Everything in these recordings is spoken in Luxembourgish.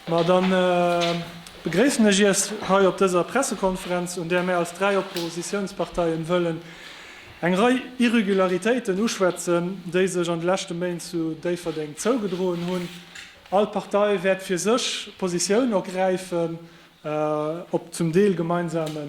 Ma dann begréissen ech Iech hei op dëser Pressekonferenz, un där mär als dräi Oppositiounsparteien wëllen eng Rei Irregularitéiten uschwätzen, déi sech an de leschte Méint zu Déifferdeng zougedroen hunn. All Partei wäert fir sech Positioun ergräifen op zum Deel gemeinsame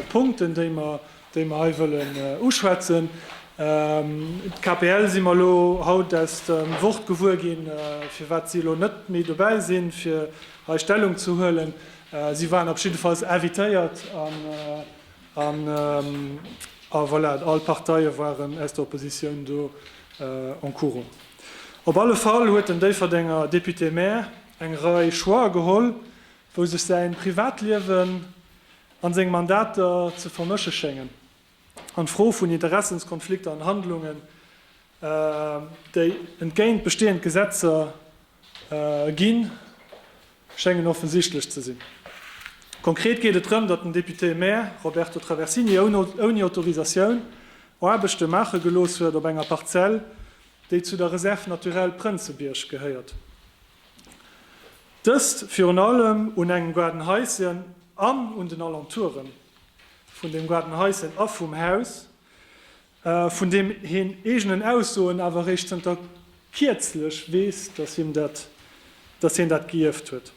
Punkten, déi mer hei wëllen uschwätzen. D'KPL si mer elo haut aus dem Wort gewuer ginn, firwat si elo net méi dobäi sinn, fir hei Stellung ze huelen. Si waren op jiddefalls invitéiert, a voilà, all d'Parteie waren aus der Oppositioun do en courant. Op alle Fall huet den Déifferdenger Député-maire eng Rei Choixer geholl, wou sech säin Privatliewen an seng Mandater ze vermëschen schéngen an d'Fro vun Interessenskonflikter an Handlungen déi entgéint bestehend Gesetzer ginn, schéngen offensichtlech ze sinn. Konkret geet et drëm, datt den Député-Maire Roberto Traversini ouni Autorisatioun Aarbechte maache gelooss huet op enger Parzell déi zu der Réserve naturelle Prënzebierg gehéiert. Dëst virun allem un engem Gaardenhaischen an un den Alentoure vun dem Gaardenhaischen a vum Haus, vun deem heen eegenen Aussoen awer eréischt zënter kierzlech weess, datt hien dat gëierft huet.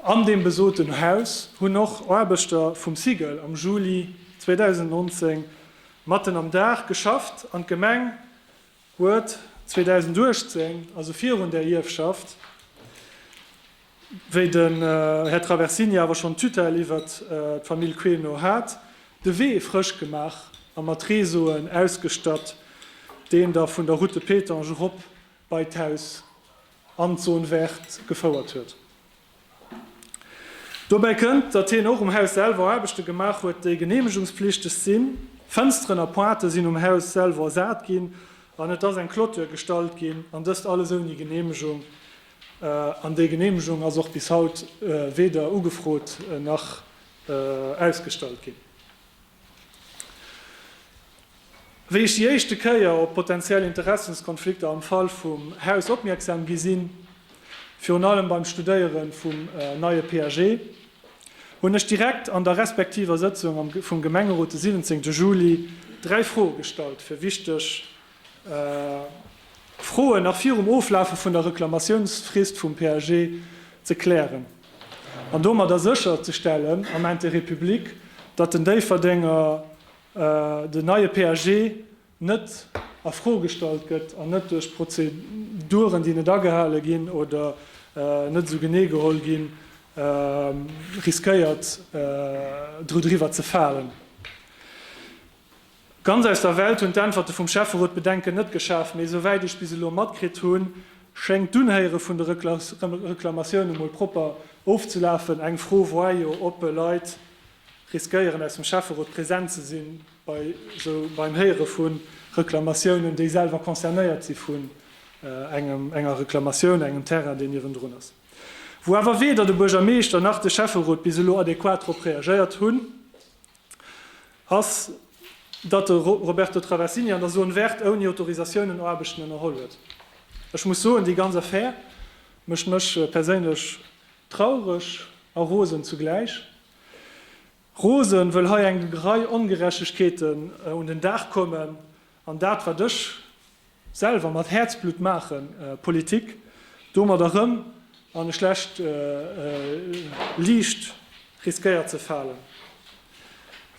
An deem besoten Haus hunn och Aarbechter vum SIGEL am Juli 2019 matten am Daach geschafft an d'Gemeng huet 2018, also virun där Ierfschaft, wéi den Här Traversini awer schonn d'Tutelle iwwert d'Famill Queno hat, de Wee frësch gemaach a mat Réseauen ausgestatt, deen da vun der Route de Pétange erop bei d'Haus an d'Zone verte gefouert huet. Dobäi kënnt, datt hien och um Haus selwer Aarbechte gemaach huet, déi geneemegungspflichteg sinn. Fënsteren a Pointë sinn um Haus selwer ersat ginn an et ass eng Clôture gestallt ginn, an dëst alles ouni Geneemegung. An déi Geneemegung ass och bis haut weder ugefrot nach ausgestallt ginn. Wéi ech déi éischte Kéier op potentiell Interessenskonflikter am Fall vum Haus opmierksam gi sinn, virun allem beim Studéiere vum neie PAG, hunn ech direkt an der respektiver Sëtzung vum Gemengerot de 17 Juli dräi Froe gestallt, fir wichteg Froen nach virum Oflafe vun der Reklamatiounsfrist vum PAG ze klären an domadder sécherzestellen, am Intérêt public, datt den Déifferdenger den neie PAG net a Fro gestallt gëtt an net duerch Prozeduren, déi net agehale ginn oder net esou genee geholl ginn, riskéiert dru driwwer ze falen. Ganz aus der Welt hunn d'Äntwerte vum Schäfferot d'Bedenken net geschaaft, mee esou wäit ech bis elo matkritt hunn, schéngt d'Unhéiere vun de Reklamatioune mol propper ofzelafen. Eng Fro war jo, ob Leit riskéieren aus dem Schäfferot present ze sinn bei esou beim Héiere vu Reklamatiounen, déi selwer concernéiert si vun engem, enger Reklamatioun, engem Terrain deen niewendrun ass. Wou awer weder de Buergermeeschter nach de Schäfferot bis elo adequat drop reagéiert hunn. ass, datt de Roberto Travasini an der Zone verte ouni Autorisatioun un Aarbechten ënnerholl huet. Ech muss soen, déi ganz Affär mécht mech perséinlech traureg a rosen zugläich. Rosen, wëll hei eng Rei Ongerechtegkeeten un den Dag kommen, An dat wat ech selwer mat Häerzblutt maachen, Politik, domat erëm an e schlecht Liicht riskéiert ze falen,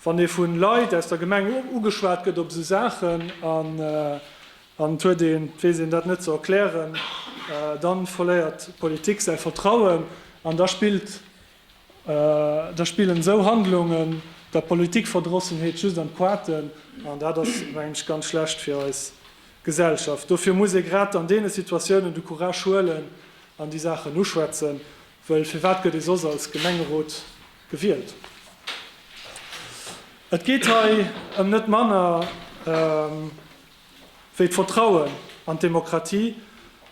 wann ee vu Leit aus der Gemeng ugeschwat gëtt op esou Saachen an et huet een, et weess een dat net ze erklären, da verléiert d'Politik säi Vertrauen an da spillt Da spillen esou Handlungen der Politikverdrossenheet just an d'Quaarten, an dat ass, mengen ech, ganz schlecht fir eis Gesellschaft. Dofir muss ee grad an deene Situatiounen de Courage huelen an déi Saachen uschwätzen, wëll firwat gëtt ee soss als Gemengerot gewielt? Et geet hei ëm net manner wéi d'Vertrauen an d'Demokratie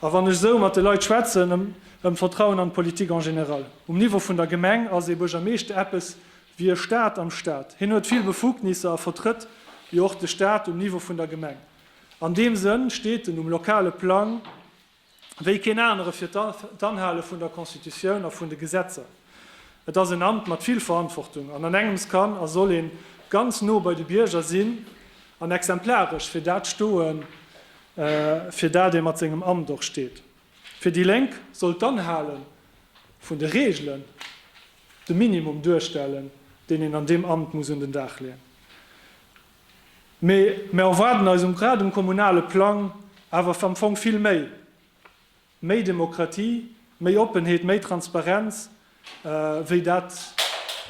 a wann ech esou mat de Leit schwätzen, ëm d'Vertrauen an d'Politik en général. Um Niveau vun der Gemeng ass ee Buergermeeschter eppes wéi e Staat am Staat. Hien huet vill Befugnisser a vertrëtt jo och de Staat um Niveau vun der Gemeng. An deem Sënn steet en um lokale Plang wéi keen anere fir d'Anhale vun der Constitutioun a vun de Gesetzer. Et ass en Amt mat vill Verantwortung an an engems kann a soll een ganz no bei de Bierger sinn an exemplaresch fir dat stoen, fir dat ee mat sengem Amt och steet. Fir déi Lénk soll d'Anhale vun de Reegelen de Minimum duerstellen, deen een an deem Amt muss un den Dag leeën. Mee mär erwaarden eis um grad um kommunale Plang awer am Fong vill méi, méi Demokratie, méi Oppenheet, méi Transparenz, wéi dat,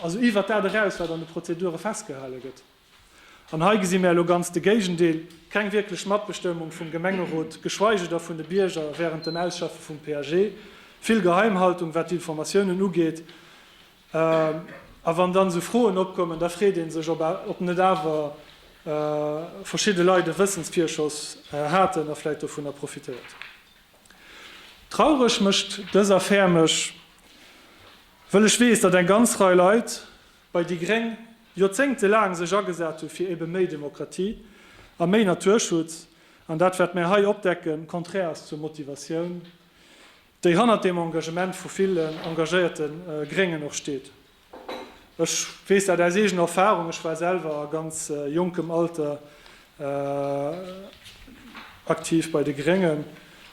also iwwert dat eraus, wat an de Prozedure festgehale gëtt. An hei gesi mär elo ganz de Géigendeel, keng wierklech Matbestëmmung vum Gemengerot, geschweige da vun de Bierger wärend dem Ausschaffe vum PAG, vill Geheimhaltung, wat d'Informatiounen ugeet. A wann dann esou Froen opkommen, da freet ee sech, ob net awer verschidde Leit e Wëssensvirschoss haten a vläicht dovunner profitéiert hunn. Traureg mécht dës Affär mech, wëll ech weess, datt eng ganz Rei Leit bei déi gréng Joerzéngte laang sech agesat hu fir ebe méi Demokratie a méi Naturschutz, an dat wat mär hei opdecken, konträr ass zur Motivatioun déi hannert deem Engagement vu villen engagéierte Gréngen och steet. Ech weess dat aus eegener Erfahrung, ech war selwer a ganz jonkem Alter aktiv bei de Gréngen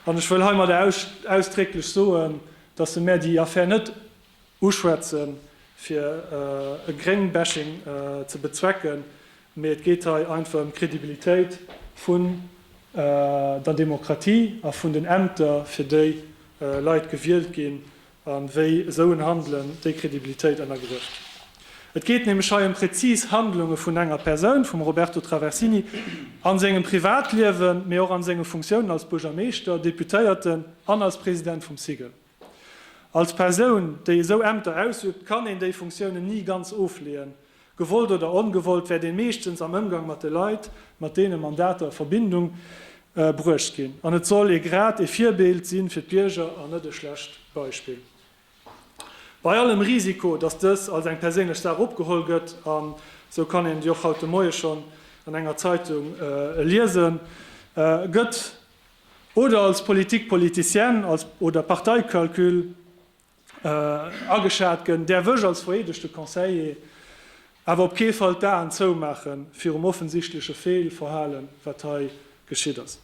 an ech wëll heimadder ausdrécklech soen, dass se mär déi Affär net Uschwätzen, fir e Gréng-Bashing ze bezwecken, mee et geet hei einfach ëm d'Credibilitéit vun der Demokratie a vun den Ämter, fir déi Leit gewielt ginn, a wéi esou en Handelen déi Credibilitéit ënnergräft. Et geet nämlech hei ëm präzis Handlunge vun enger Persoun, vum Roberto Traversini, a sengem Privatliewen, mee och a senge Funktiounen als Buergermeeschter, Deputéierten an als President vum SIGEL. Als Persoun, déi esou Ämter ausübt, kann een déi Funktiounen ni ganz ofleeën. Gewollt oder ongewollt wäert een meeschtens am Ëmgang mat de Leit, mat deene Mandater a Verbindung bruecht ginn. An et soll ee grad e Virbild si fir d'Bierger an net e schlecht Beispill. Bei allem Risiko, dass dës als eng perséinlech Saach opgeholl gëtt, an esou kann een et jo och haut de Moie schonn an enger Zeitung liesen, gëtt Oder als Politique politicienne als oder Parteikalkül ageschat gënn, däerf ech als vereedegte Conseiller awer op kee Fall d'Aen zoumaache virum offensichtleche Feelverhalen, wat hei geschitt ass.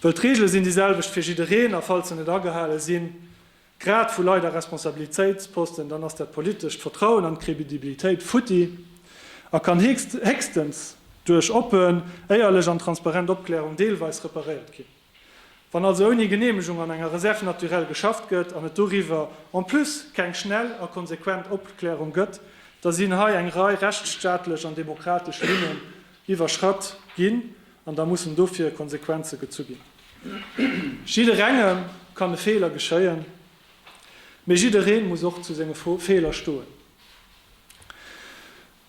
Well d'Reegele sinn déi selwecht fir jiddereen a falls se net agehale sinn, Grad vu Leit a Responsabilitéitsposten, dann ass dat politescht Vertrauen an d'Credibilitéit futti a kann héchstens duerch oppen, éierlech an transparent Opklärung deelweis reparéiert ginn. Wann also ouni Geneemegung an enger Reserve naturelle geschafft gëtt an et doriwwer en plus keng schnell a konsequent Opklärung gëtt, da sinn hei eng Rei rechtsstaatlech an demokratesch Linnen iwwerschratt ginn an da mussen dofir Konsequenze gezu ginn. Jidderengem kann e Feeler geschéien, mee jidderee muss och zu senge Feeler stoen.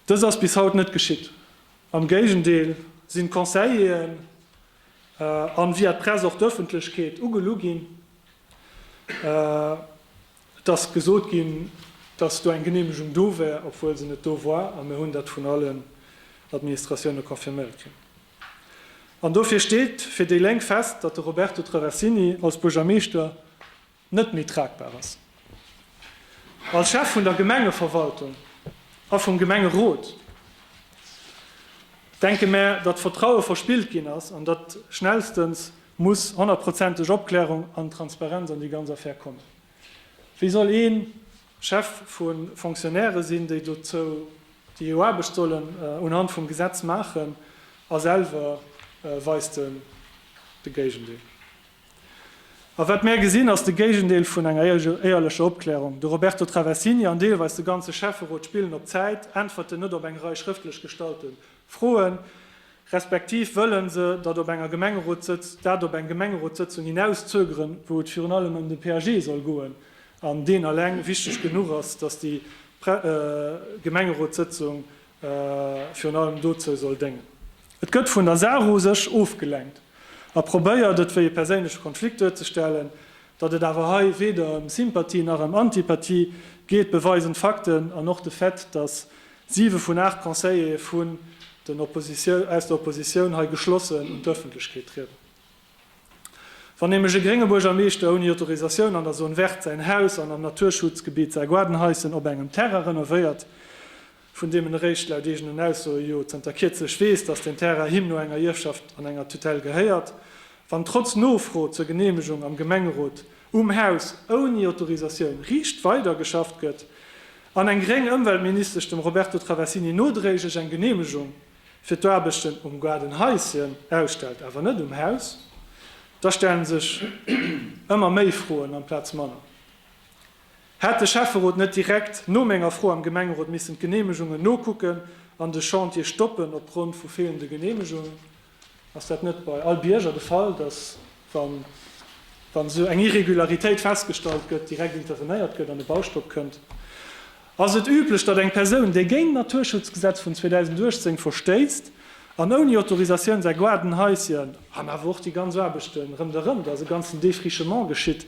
Dëst ass bis haut net geschitt. Am Géigendeel sinn d'Conseilleren an via d'Press och d'Ëffentlechkeet ugelu ginn. Et ass gesot ginn, dass do eng Geneemegung do wär, obwuel se net do war, a mir hunn dat vun allen Administratioune confirméiert kritt. An dofir steet fir déi Lénk fest, datt de Roberto Traversini als Buergermeeschter net méi tragbar ass. Als Chef vun der Gemengeverwaltung a vum Gemengerot denke mär, datt Vertraue verspillt ginn ass an datt schnellstens muss honnertprozenteg Opklärung an Transparenz an déi ganz Affär kommen. Wéi soll ee Chef vu Fonctionnairë sinn, déi dozou, déi hir Aarbecht sollen unhand vum Gesetz maachen, a selwer weist en de Géigendeel? A wat mär gesinn, ass de Géigendeel vun enger éierlecher Opklärung. De Roberto Traversini an deelweis de ganze Schäfferot spillen op Zäit, äntwerten net op eng Rei schrëftlech gestallten Froen, respektiv wëllen se dat op enger Gemengerotssëtz, dat op eng Gemengerotssëtzung hinauszögeren, wou et virun allem ëm de PAG soll goen an deen eleng wichteg genuch ass, dass déi Pre Gemengerotssëtzung virun allem dozou soll déngen. Et gëtt vun der Saach u sech ofgelenkt a probéiert, et wéi e perséinleche Konflikt duerzestellen. Datt et awer hei weder ëm Sympathie nach ëm Antipathie geet, beweisen d'Fakten an och de Fait, dass Siwe vun aacht Conseillere vun den aus der Oppositioun hei geschlossen un d'Ëffentlechkeet trieden. Wann nämlech e grénge Buergermeeschter ouni Autorisatioun an der Zone verte säin Haus an am Naturschutzgebitt Saarguardenhäuschen op engem Terrain renovéiert, vun deem en eréischt laut eegenen Aussoe jo zënter kierzlech weess, datt deen Terrain him no enger Ierfschaft an enger Tutelle gehéiert, wann trotz Nofro zur Geneemegung am Gemengerot um Haus ouni Autorisatioun riicht weidergeschafft gëtt, An eng gréng Ëmweltministesch dem Roberto Traversini nodréiglech eng Geneemegung fir d'Aarbechten um Gaardenhaischen ausstellt, awer net um Haus, da stellen sech ëmmer méi Froen amplaz manner. Hätt de Schäfferot net direkt no menger Fro am Gemengerot missen d'Geneemegungen nokucken an de Chantier stoppen opgrond vu feelende Geneemegungen? Ass dat net bei all Bierger de Fall, datt wann esou eng Irregularitéit festgestallt gëtt, direkt intervenéiert gëtt an e Baustopp kënnt? Ass et üblech, datt eng Persoun, déi géint d'Naturschutzgesetz vun 2018 verstéisst an ouni Autorisatioun säi Gaarden, Haischen an awer och déi ganz Aarbechten ronderëm, datt e ganzen Défrichement geschitt,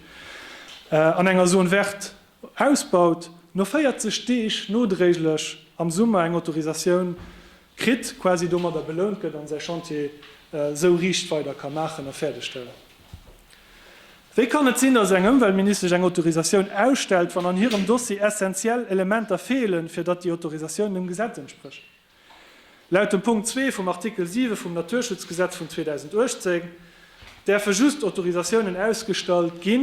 an enger Zone verte Ausbaut, no 40 Deeg nodréiglech am Summer eng Autorisatioun kritt, quasi domadder belount gëtt an säi Chantier esou riicht weider ka maachen a fäerdeg stellen. Wéi kann et sinn, datt eng Ëmweltministesch eng Autorisatioun ausstellt, wann an hirem Dossier essentiell Elementer feelen, fir datt déi Autorisatioun dem Gesetz entsprécht? Laut dem Punkt 2 vum Artikel 7 vum Naturschutzgesetz vun 2018 däerfe just Autorisatiounen ausgestallt gi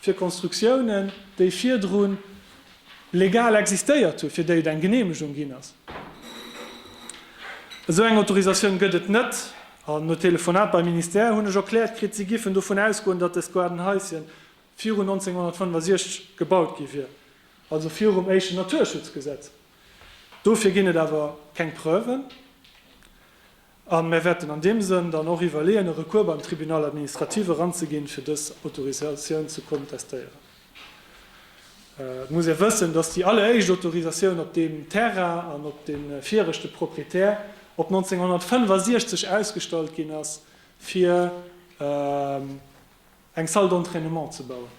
fir Konstruktiounen, déi virdru legal existéiert hunn, fir déi et eng Geneemegung ginn ass. Esou eng Autorisatioun gëtt et net an no Telefonat beim Ministère hunn ech erkläert kritt, si giffen dovun ausgoen, datt dëst Gaardenhaisschen virun 1965 gebaut gi wier, also virum éischten Naturschutzgesetz. Dofir ginn et awer keng Preuven a mir wäerten an deem Sënn dann och iwwerleeën, e Recours beim Tribunal administratif eranzeginn, fir dës Autorisatioun ze kontestéieren. Et muss ee wëssen, dass déi alleréischt Autorisatioun op deem Terrain an op de viregte Proprietär op 1965 ausgestallt ginn ass, fir eng Salle d'entraînement ze bauen.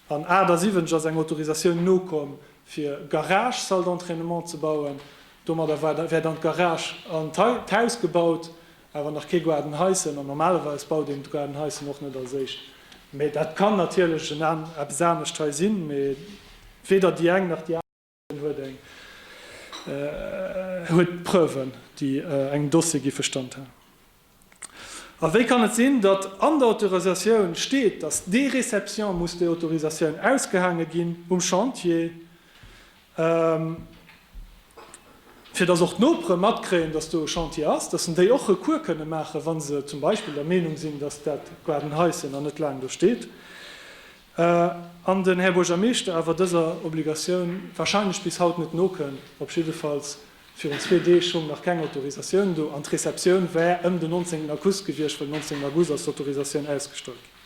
An 78 ass eng Autorisatioun nokomm, fir Garage, Salle d'entraînement ze bauen. Domadder wär dann d'Garage an d'Haus gebaut, awer nach kee Garden heissen. An normalerweis baut een d'Garden heissen och net als éischt. Mee dat kann natierlech eppes anescht hei sinn, mee weder déi eng nach déi aner. Hien huet eng huet Preuven, déi engem Dossier géife Stand halen. A wéi kann et sinn, datt an der Autorisatioun steet, datt dee Réception muss déi Autorisatioun ausgehaange ginn um Chantier, fir datt och d'Nopere matkréien, datt do e Chantier ass, datt en déi och Recours kënne maachen, wa se zum Beispill der Meenung sinn, datt dat Gardenhaischen nach net laang do steet? an den Här Buergermeeschter awer dëser Obligatioun wahrscheinlech bis haut net nokënn, op jiddefalls virun zwee Deeg hung nach keng Autorisatioun do an d'Receptioun war ëm den 19 Auguss gewiescht, well 19 August ass d'Autorisatioun ausgestallt ginn.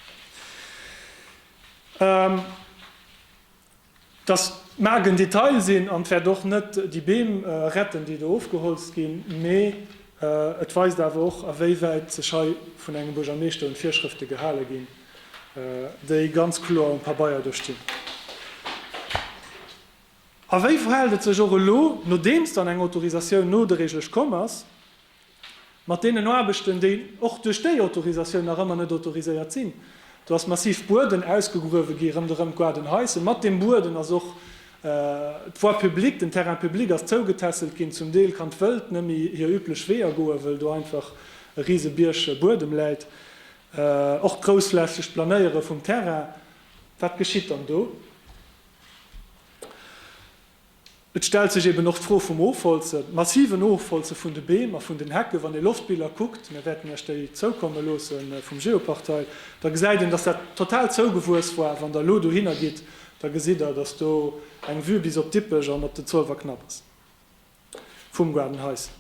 Dass d'Maark en Detail sinn an d'Wäert och net déi Beem retten, déi do ofgeholzt ginn, mee et weist awer och, awéiwäit sech hei vun engem Buergermeeschter un d'Virschrëfte gehale ginn, déi ganz kloer um Pabeier do stinn. A wéi verhält et sech och elo, nodeems dann eng Autorisatioun no de Regele komm ass, Mat deenen Aarbechten, déi och duerch déi Autorisatioun nach ëmmer net autoriséiert sinn. Do ass massiv Bueden ausgegruewe gi rëmderëm d'Guarden Heise. Mat deem Bueden ass och d'Voie publique, den Terrain public ass zougetässelt ginn. Zum Deel kann d'Wëld nëmmi hir üblech Weeër goen, wëll do einfach e rise Bierg Buedem läit. Och d'groussflächegt Planéiere vum Terrain, wat geschitt dann do? Et stellt sech eben och d'Fro vum Ofholzen, massiven Ofholze vun de Beem a vun den Hecke. Wann ee Loftbiller kuckt, mir wäerten Iech déi zoukomme loosse vum Geoportail, da gesäit een, dass dat total zougewuess war. Wann Der elo dohinner gitt, da gesitt Der, dass do eng Vue bis op Dippech an op den Zolwer Knapp ass vum Garden Heissenhaus.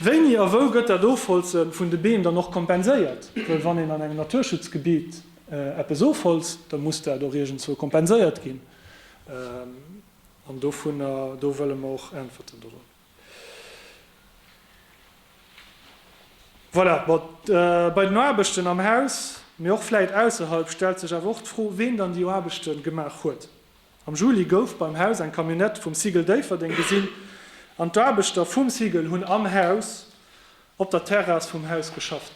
Wéini a wou gëtt dat Ofholze vun de Beem dann och kompenséiert? Well wann een an engem Naturschutzgebitt eppes ofholzt, da muss dat och iergendzwou kompenséiert ginn. An dovunner do wëlle mer och Äntwerten drop. Voilà, bon, bei den Aarbechten am Haus, mee och vläit ausserhalb, stellt sech awer och d'Fro, ween dann déi Aarbechte gemaach huet. Am Juli gouf beim Haus eng Camionnette vum SIGEL Déifferdeng gesinn an d'Aarbechter vum SIGEL hunn am Haus op der Terrass vum Haus geschafft.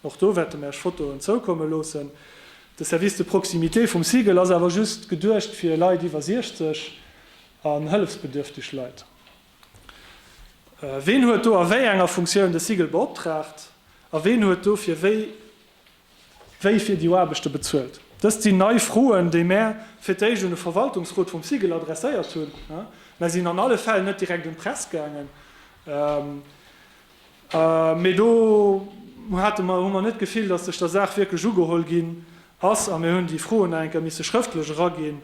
Och do wäerte mir Iech Fotoen zoukomme loossen. De Service de proximité vum SIGEL ass awer just geduecht fir Leit iwwer 60 an hëllefsbedürfteg Leit. Ween huet do a wéi enger Funktioun de SIGEL beoptraagt a ween huet dofir wéi Wie fir déi Aarbechte bezuelt? Dëst sinn nei Froen, déi mär fir d'éischt un de Verwaltungsrot vum SIGEL adresséiert hunn. Mär sinn an alle Fäll net direkt un d'Press gaangen, mee do hate mer, hu mer net d'Gefill, datt sech der Saach wierklech ugeholl ginn ass. A mir hunn déi Froen nach eng Kéier misse schrëftlech eraginn,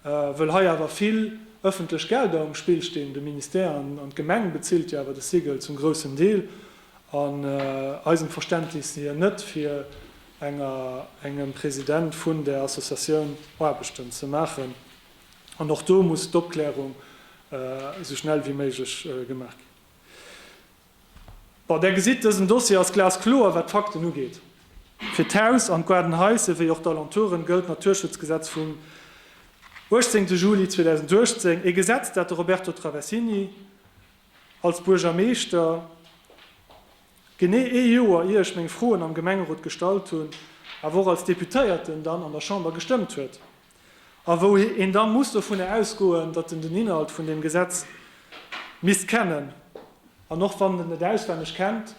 wëll hei awer vill ëffentlech Gelder um Spill stinn. De Ministère an d'Gemeng bezilt jo awer de SIGEL zum groussen Deel. An eisem Verständnis si hien net fir enger engem President vun där Associatioun Aarbechten ze maachen. An och do muss d'Opklärung esou schnell wéi méiglech gemaach ginn. Bon, Der gesitt, dësen Dossier ass glaskloer, wat d'Fakten ugeet. Fir d'Haus an d'Garden Heights ewéi och d'Alentoure gëllt d'Naturschutzgesetz vum 18 Juli 2018, ee Gesetz, dat de Roberto Traversini Als Buergermeeschter, genee ee Joer ier ech meng Froen am Gemengerot gestallt hunn, awer och als Deputéierten dann an der Chamber gestëmmt huet, a wou een da muss dovunner ausgoen, datt en den Inhalt vun deem Gesetz misst kennen, an och wann en et net auswenneg kennt,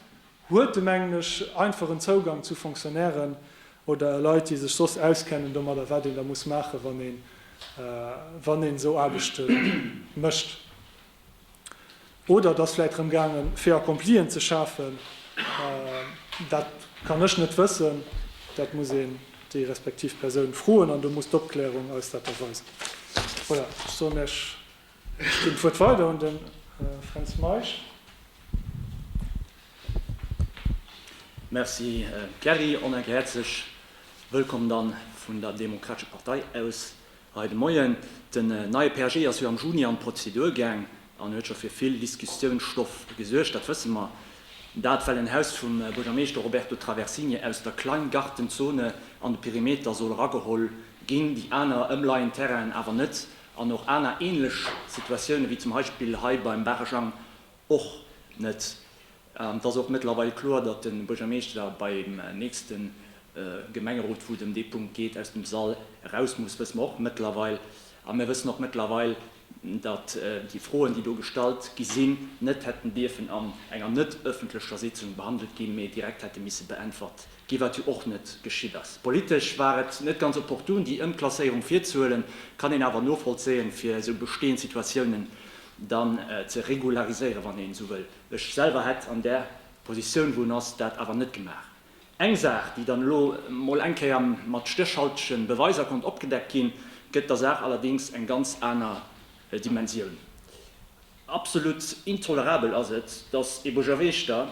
huet e mengen ech einfach en Zougang zu Fonctionnairen oder Leit déi sech soss auskennen domadder, wat een da muss maachen, wann een esou Aarbechte mécht. Oder et ass vläicht drëm gaange fait accomplien ze schafen. Dat kann ech net wëssen. Dat muss een déi respektiv Persoun froen an do muss d'Opklärung eis dat da weisen. Voilà, ech soen lech, ech ginn d'Wuert weider un de Fränz Meisch. Merci Kerry. Onengherzlech Wëllkomm dann vun der Demokratescher Partei aus. Hei de Moien, Den neie PAG ass jo am Juni an d'Prozedur gaang an huet scho fir vill Diskussiounsstoff gesuergt, dat wësse mer. Dat well en Haus vum Buergermeeschter Roberto Traversini aus der Kleingartenzone an de Perimeter soll erageholl ginn, déi aner ëmleien Terrainen awer net an och aner änlech Situatioune wéi zum Heispill hei beim Barejang och net. Et ass och mëttlerweil kloer, datt de Buergermeeschter beim nächste Gemengerot, wou et ëm dee Punkt geet, aus dem Sall eraus muss, wësse mer och mëttlerweil. A mir wëssen och mëttlerweil, datt déi Froen, déi do gestallt gi sinn, net hätten dierfen an enger net ëffentlecher Sitzung behandelt ginn, mee direkt hätte misse beäntwert ginn, wat jo och net geschitt ass. Politesch war et net ganz opportun, déi Ëmklasséierung virzehuelen, kann een awer novollzéien, fir esou bestehend Situatiounen dann ze regulariséieren, wann een esou wëllt. Ech selwer hätt an där Positioun, wou en ass, dat awer net gemaach. Eng Saach, déi dann elo emol eng Kéier mat stéchhaltege Beweiser konnt opgedeckt ginn, gëtt der Saach allerdéngs eng ganz aner Dimensioun. Absolut intolerabel ass et, dass e Buergermeeschter,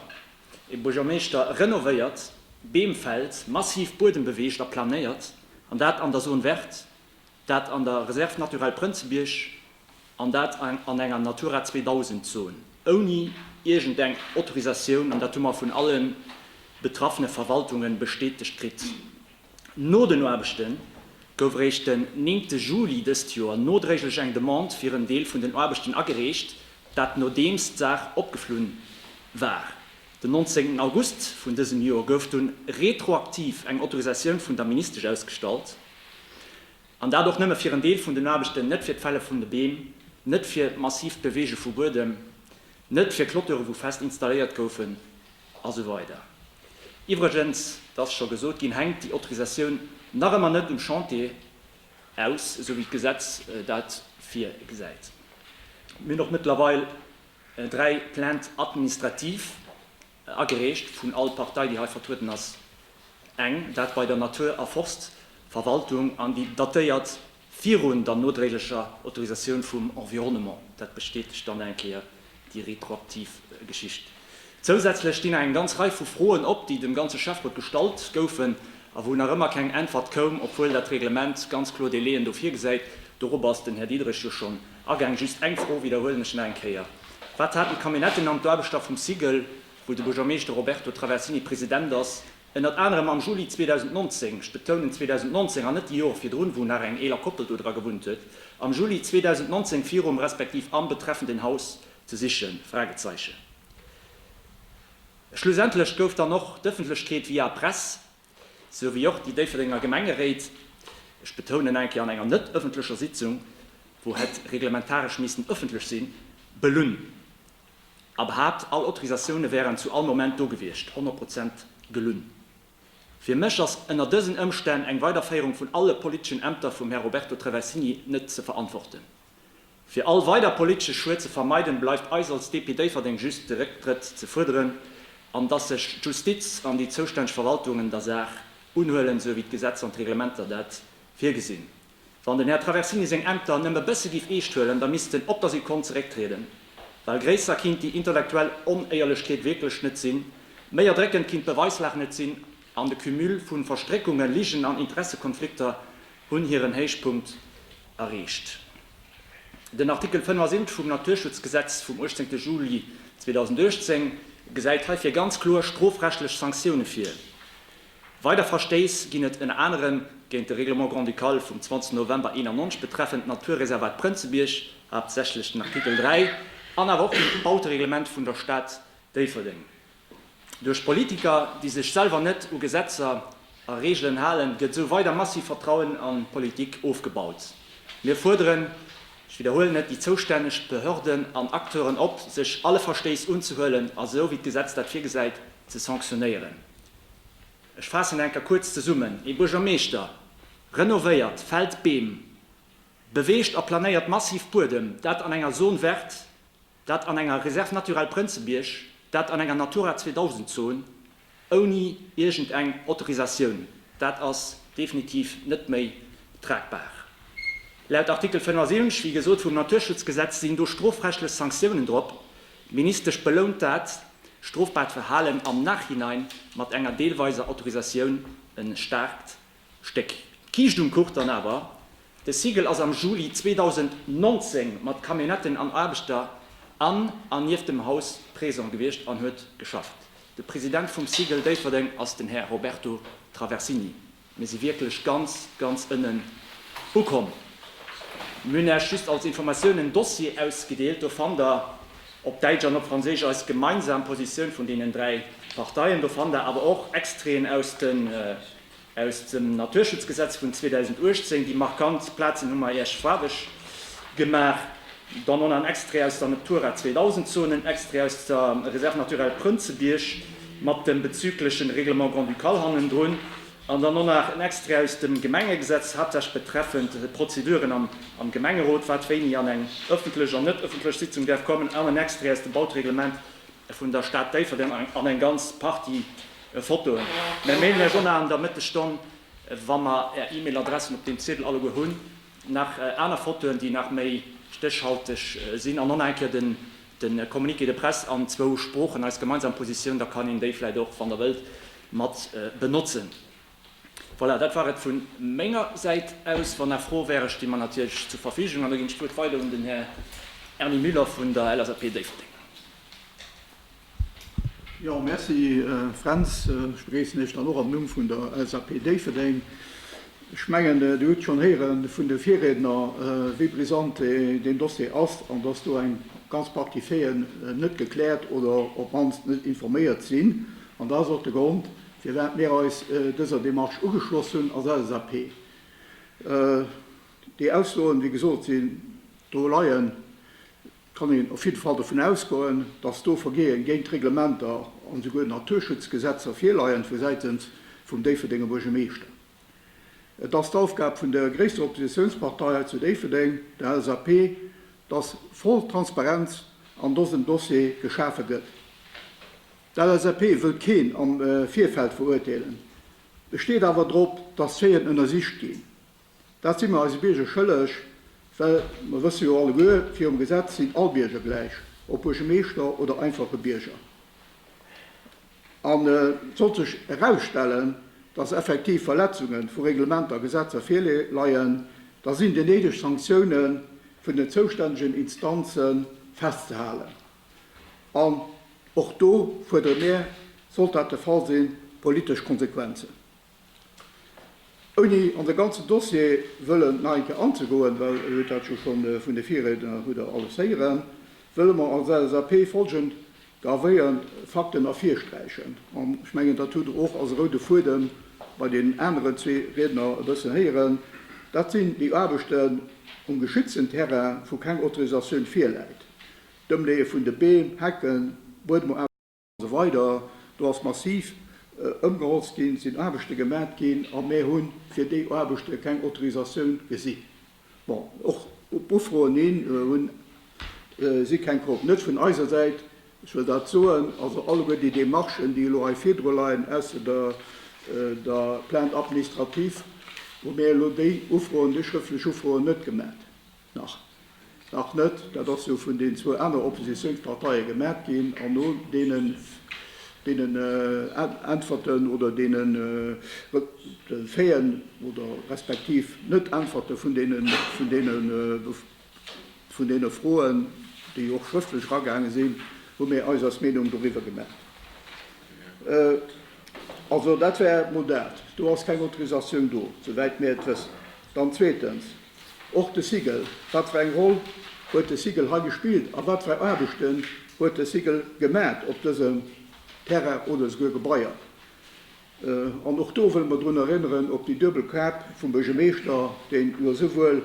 e Buergermeeschter renovéiert, Beem fällt, massiv Buedem beweegt a planéiert, an dat an der Zone verte, Dat an der Réserve naturelle Prënzebierg an dat an enger Natura 2000 Zon, ouni iergend eng Autorisatioun, an dat hu mer vun allen betraffene Verwaltungen bestätegt kritt. No den Aarbechten gouf eréischt den 9 Juli dëst Joer nodréiglech eng Demande fir en Deel vun den Aarbechten agereecht, dat nodeems d'Saach opgeflunn war. Den 19 August vun dësem Joer gouf dunn retroaktiv eng Autorisatioun vun der Ministesch ausgestallt, an dat och nëmme fir en Deel vun den Aarbechten, net fir d'Fälle vun de Beem, net fir d'massiivt Beweege vu Buedem, net fir Clôturë wou fest installéiert goufen a sou weider Iwwregens, et ass scho gesot ginn, hänkt déi Autorisatioun nach ëmmer net um Chantier aus, esou wéi d'Gesetz dat virgesäit. Mir hunn och mëttlerweil Dräi Plaintes administratives agereecht vun all Partei, déi hei vertrueden ass, eng, dat bei der Natur a Forstverwaltung, an déi datéiert virun der nodréiglecher Autorisatioun vum Environnement. Dat bestätegt dann eng Kéier déi retroaktiv Geschicht. Zousätzlech stinn nach eng ganz Rei vu Froen op, déi dem ganze Schäfferot gestallt goufen a wou nach ëmmer keng Äntwert koum, obwuel dat Reglement ganz kloer Délai'en do virgesäit. Dorop ass den Här Diederich jo schonn Agaang. Just eng Fro widderhuelen ech nach eng Kéier, Wat haten d'Camionnetten an d'Aarbechter vum SIGEL, wou de Buergermeeschter Roberto Traversini President ass, ënnert anerem am Juli 2019, ech betounen 2019 an net déi Joer virdrun, wou nach eng eeler Koppel do dra gewunnt huet, am Juli 2019 virum respektiv am betreffenden Haus ze sichen? Fragezeichen. Schlussendlech gouf dann och d'Ëffentlechkeet via Press sou wéi och déi Déifferdenger Gemengeréit, ech betounen nach eng Kéier, an enger net ëffentlecher Sitzung, wou hätt reglementaresch miissten ëffentlech sinn, belunn a behaapt, all Autorisatioune wären zu all Moment do gewiescht, 100 Prozent gelunn. Fir mech ass ënner dësen Ëmstänn eng Weiderféierung vun alle politeschen Ämter vum Här Roberto Traversini net ze verantworten. Fir all weider politesche Schued ze vermeiden, bleift eis als DP Déifferdeng just de Récktrëtt ze fuerderen, an dass sech d'Justiz an déi zoustänneg Verwaltungen der Saach unhuelen, esou wéi d'Gesetzer an d'Reglementer dat virgesinn. Wann den Här Traversini seng Ämter nëmme bësse giff eescht huelen, da misst en op der Sekonn zerécktrieden, well gréisser kinnt déi intellektuell Onéierlechkeet wierklech net sinn, méi erdréckend kinnt d'Beweislag net sinn, an de Cumul vu Verstréckunge, Ligen an Interessekonflikter hunn hiren Héichpunkt erreecht. Den Artikel 75 vum Naturschutzgesetz vum 18 Juli 2018 gesäit heifir ganz kloer strofrechtlech Sanktioune vir. Weider Verstéiss ginn et ënner anerem géint de Règlement grand-ducal vum 20 November 91 betreffend d'Naturreservat Prënzebierg, haaptsächlech den Artikel 3, an awer och dem Bautereglement vun der Stad Déifferdeng. Duerch Politiker, déi sech selwer net u Gesetzer a Reegelen halen, gëtt esou weider massiv Vertrauen an d'Politik ofgebaut. Mir fuerderen, ech widderhuelen et, déi zoustänneg Behörden an Acteuren op, sech alle Verstéiss unzehuelen a sou wéi d'Gesetz dat virgesäit, ze sanktionéieren. Ech faassen enker kuerz zesummen. Ee Buergermeeschter renovéiert, fällt Beem, beweegt a planéiert massiv Buedem, dat an enger Zone verte, Dat an enger Réserve naturelle Prënzebierg, dat an enger Natura 2000 Zon, ouni iergend eng Autorisatioun, dat ass definitiv net méi tragbar. Laut Artikel 75, wéi gesot, vum Naturschutzgesetz sinn do strofrechtlech Sanktiounen drop. D'Ministesch belount dat strofbaart Verhalen am Nachhinein mat enger deelweiser Autorisatioun, en staarkt Stéck. D'Kiischt um Kuch dann awer, De Siegel ass am Juli 2019 mat Camionnetten an Aarbechter an an nieft dem Haus présent gewiescht an huet geschafft. De President vum Siegel Déifferdeng ass den Här Roberto Traversini. Mir si wierklech ganz, ganz ënnen ukomm. Mir hunn Äech just als Informatioun en Dossier ausgedeelt. Do fannt Der op Däitsch an op Franséisch eis gemeinsam Positioun vun deenen dräi Parteien. Do fannt Der awer och Extraiten aus de Aus dem Naturschutzgesetz vun 2018, déi markant Plazen hu mer Iech faarweg gemaach, dann och nach en Extrait aus der Natura 2000 Zone, en Extrait aus der Réserve naturelle Prënzebierg mat dem bezüglechen Règlement grand-ducal hannendrun an dann och nach en Extrait aus dem Gemengegesetz, haaptsächlech betreffend d'Prozeduren am Gemengerot, wat wéini an eng ëffentlech an net ëffentlech Sitzung däerf kommen, an en Extrait aus dem Bautereglement vun der Stad Déifferdeng an eng ganz Partie Fotoen. Mär mailen iech och nach an der Mëttesstonn, wa mer är E-Mail-Adressen op deem Ziedel alleguer hunn, nach aner Fotoen, déi nach méi stéchhalteg sinn, an och nach eng Kéier de Communiqué de presse an zwou Sproochen, eis gemeinsam Positioun. Da kann een déi vläicht och, wann der wëllt, mat benotzen. Voilà, dat war et vu menger Säit aus. Wann nach Froe wären, sti mer natierlech zur Verfügung. An da ginn ech d'Wuert weider un den Här Erny Müller vun der LSAP Déifferdeng. Jo, Merci Fränz. Ech begréissen Iech dann och am Numm vun der LSAP Déifferdeng. Ech mengen, Dir hutt schonn héiere vun de Virriedner, wéi brisant deen Dossier ass an dass do eng ganz Partie Faiten net gekläert oder op d'mannst net informéiert sinn. An dat ass och de Grond, firwat mir eis dëser Démarche ugeschloss hunn als LSAP. Déi Aussoen, wéi gesot, sinn do leien. kann een op jidde Fall dovun ausgoen, dass do Vergeeë géint d'Reglementer an esouguer d'Naturschutzgesetzer virleien vu Säitens vum Déifferdenger Buergermeeschter. Et ass d'Aufgab vun der gréisster Oppositiounspartei hei zu Déifferdeng, der LSAP, dass voll Transparenz an dësem Dossier geschafe gëtt. D'LSAP wëllt keen am Virfeld verurteelen, besteet awer drop, dass d'Schéien ënnersicht ginn. Dat si mer eise Bierger schëlleg, well mer wësse jo alleguer, virum Gesetz sinn all Bierger gläich, ob Buergemeeschter oder einfache Bierger. An sollt sech erausstellen, dass effektiv Verletzunge vu Reglementer a Gesetzer virleien, da sinn déi néideg Sanktioune vun den zoustännegen Instanze festzehalen. An och do fuerdere mir, sollt dat de Fall sinn, politesch Konsequenzen. Ouni an de ganzen Dossier wëllen nach eng Kéier anzegoen, well Dir hutt dat jo scho vun de Virriedner hutt Der alles héieren, wëlle mer als LSAP folgend gravéiernd Fakten ervirsträichen, an ech mengen, dat hutt Der och als roude Fuedem bei deenen aneren zwee Riedner e bëssen héieren, dat sinn déi Aarbechten um geschützten Terrain, wou keng Autorisatioun virläit, d'Ëmleeë vun de Beem, Hecken, Buedemoarbechten. Esou weider. Do ass massiv ëmgeholzt ginn, et sinn Aarbechte gemat ginn a mir hu fir déi Aarbechte keng Autorisatioun gesi. Bon, och op Ufroen hin hunn si keng krut. Net vun eiser Säit, ech wëll dat soen. Also alleguer déi Demarchen, déi elo hei virdru leien, ausser der Plainte administrative, hu mir elo déi Ufroen, déi schrëftlech Ufroen net gemat. Nach. Nach net. Dat ass jo vun den zwou aner Oppositiounsparteie gemaacht ginn. An no deenen, deenen Äntwerten oder deene Reféen oder respektiv Net-Äntwerte vun deene, vun deene, vun deene Froen, déi och schrëftlech eragaange sinn, hu mir eis eis Meenung doriwwer gemaacht. Also dat war mol dat. Do ass keng Autorisatioun do, souwäit mir et wëssen. Dann zweetens. Och de Sigel, wat fir eng Roll huet de Sigel hei gespillt a wat fir Aarbechten huet de Sigel gemaat op dësem Terrain oder souguer Gebaier? An och do wëlle mer drun erënneren op déi duebel Kap vum Buergermeeschter, deen jo souwuel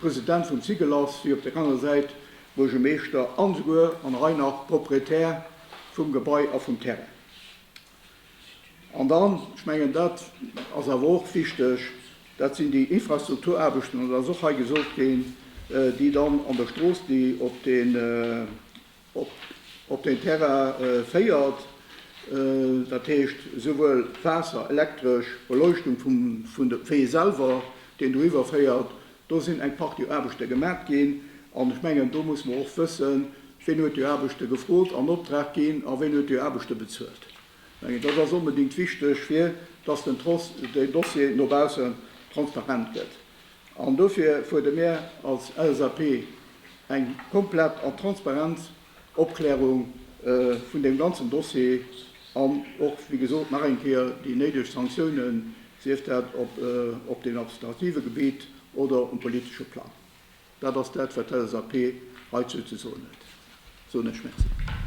President vum Sigel ass, wéi op der anerer Säit Buergermeeschter an souguer, an hei nach, Proprietär vum Gebai a vum Terrain. An dann, ech mengen, dat ass awer och wichteg, dat sinn déi Infrastrukturaarbechten, an dat ass och hei gesot ginn, déi dann an der Strooss, déi op deen Terrain féiert, dat heescht esouwuel Waasser, elektresch, Beleuchtung vum Wee selwer, deen do iwwerféiert, Do sinn eng Partie Aarbechte gemat ginn. An ech mengen, do muss mer och wëssen, wien huet déi Aarbechte gefrot, an Optrag ginn a wien huet déi Aarbechte bezuelt. Ech mengen, dat ass onbedéngt wichteg, fir dass den Dossier no baussen transparent gëtt. An dofir fuerde mir als LSAP eng komplett an transparent Opklärung vun deem ganzen Dossier an och, wéi gesot, nach eng Kéier déi néideg Sanktiounen, sief dat op deem administrative Gebitt oder um politesche Plang. Dat ass dat, wat d'LSAP heizou ze soen huet, soen ech Merci.